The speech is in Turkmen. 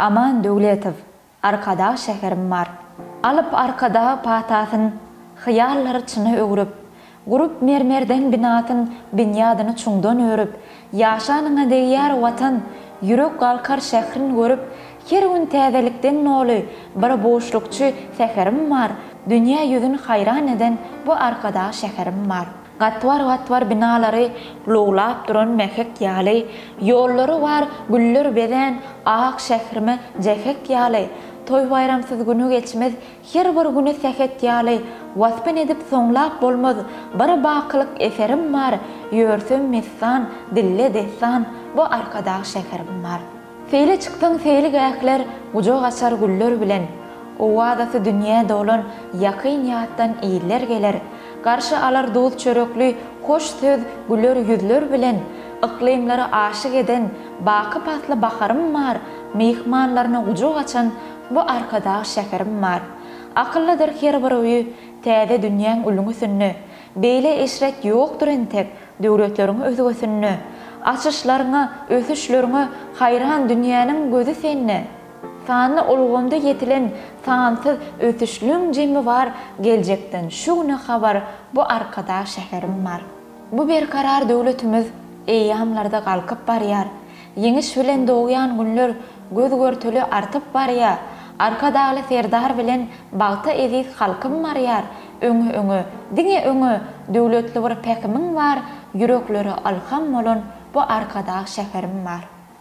Aman Döwletow, Arkadag şäherim bar. Alyp Arkadag patasyn, Hyýallary çyna öwrüp, Gurup mermerden binasyn, Binýadyny çuňdan örüp, Ýaşanyňa degýär Watan, Ýürek galkar şährin görüp, Her gün täzelikden doly, Bir buşlukçy säherim bar, Dünýä ýüzün haýran eden Bu Arkadag şäherim bar. Gatbar-gatbar binalary lowlap duran mähek ýaly, Ýollary bar güller bezän ak şährime jähek ýaly, Toý-baýramsyz güni geçmez her bir güni sähet ýaly, Waspyn edip soňlap bolmaz bir bakylyk eserim bar, Ýörsem messan, dille dessan bu Arkadag şäherim bar. Seýle çyksaň seýilgähler gujak açar güller bilen, Owazasy dünýä dolan ýakyn ýatdan iller geler, Garşy alar duz çörekli hoş söz güler ýüzler bilen, Yklymlary aşyk eden baky pasly baharym bar, Myhmanlaryna gujak açan bu Arkadag şäherim bar. Akyllydyr her bir öýi täze dünýäň ülňüsinde, Beýle eşret ýokdur entek döwletleriň özgesinde. Açyşlaryňa, ösüşleriňe haýran dünýäniň gözi sende. Sanly ulgamda ýetilen sansyz ösüşliň jemi bar geljekden şu güne habar bu Arkadag şäherim bar. Bu berkarar döwletimiz eýýamlarda galkyp barýar. Ýeňiş bilen dogýan günler göz-görtele artyp barýar, Arkadagly Serdar bilen bagta eziz halkym barýar, Öňe, öňe, diňe öňe, döwletli bir pähimiň bar, Ýüreklere ylham bolan bu Arkadag şäherim bar.